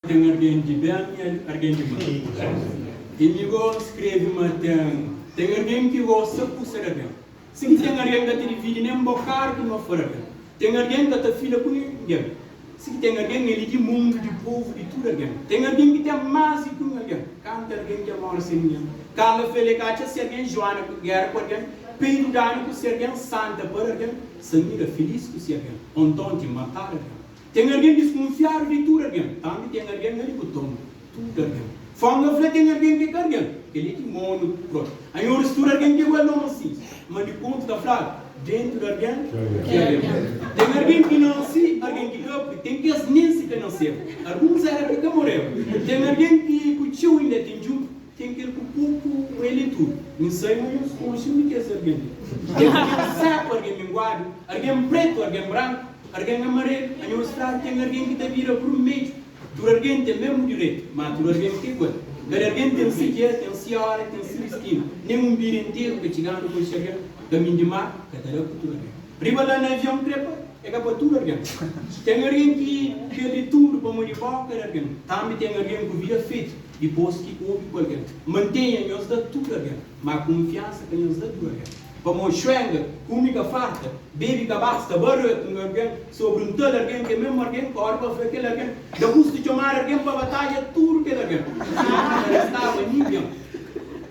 Ten argen di ben y argen di mal. Y mi go skrebe ma ten ten argen ki gosta kusa da ben, sin ki ten argen ka ta dividi nen bokadu di ma fala ben, ten argen ka ta fila ku ningen, si ki ten argen el i di mundu, di povu, di tudu argen. Ten argen ki ten mas di kun argen, kantu argen ke mora sen ningen. Karla fla el, e ka atxa si argen juana ku gera ku argen, pa i dudanu ku si argen santa para argen, samira filis ku si argen, o nton ki matadu argen. Ten algen diskunfiadu di tudu algen, tanbê ten algen na libutoma tudu algen. Fónga fla ten algen ki é ka algen, kel-li é ki monu própi. Anhô oris tudu algen ki é igual nôma si, má di kontu ta fladu, déntu di algen ki é algen. Ten algen ki nase, algen ki ka, purkê ten kes nen si ka naseba, alguns éra ki ka moreba. Ten algen ki ku txeu inda é ten djuntu. Ten kel ku kurpu mu é li tudu mi sai mu nhos ku uxi mi kes argen li ten argen seku argen minguadu argen pretu argen branku argen amarelu a nhos klaru ten argen ki ta bira vrumedju tudu argen ten mesmu direitu ma tudu argen ka igual kada argen ten si dia ten si ora ten si distinu nen un bira interu ka txiganu ku es xega kaminhu di mar ka ta da ku tudu argen riba la na avion trepa é ka pa tudu argen ten argen ki perde tudu pamodi bo kada argen tanbi ten argen ku vida fetu. Dipôs ki obi ku algen. Mantenha nhos da tudu algen. Má kunfiansa ka nhos da tudu algen. Pamodi xuenga, kume ka farta, bebe ka basta, ba râtu un algen sobri un tal algen, kel mésmu algen kóre pa fla kel algen, Da kustu txomadu algen pa batadja tudu kel algen. Ná, ka restaba ningen.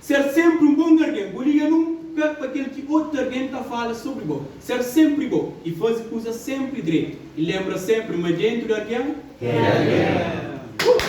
Ser senpri un bon argen. Bu liga nun pé pa kel ki otu argen ta fala sobri bo. Ser senpri bo i faze kuzas senpri dretu. I lenbra senpri ma dentu di argen. Ten argen.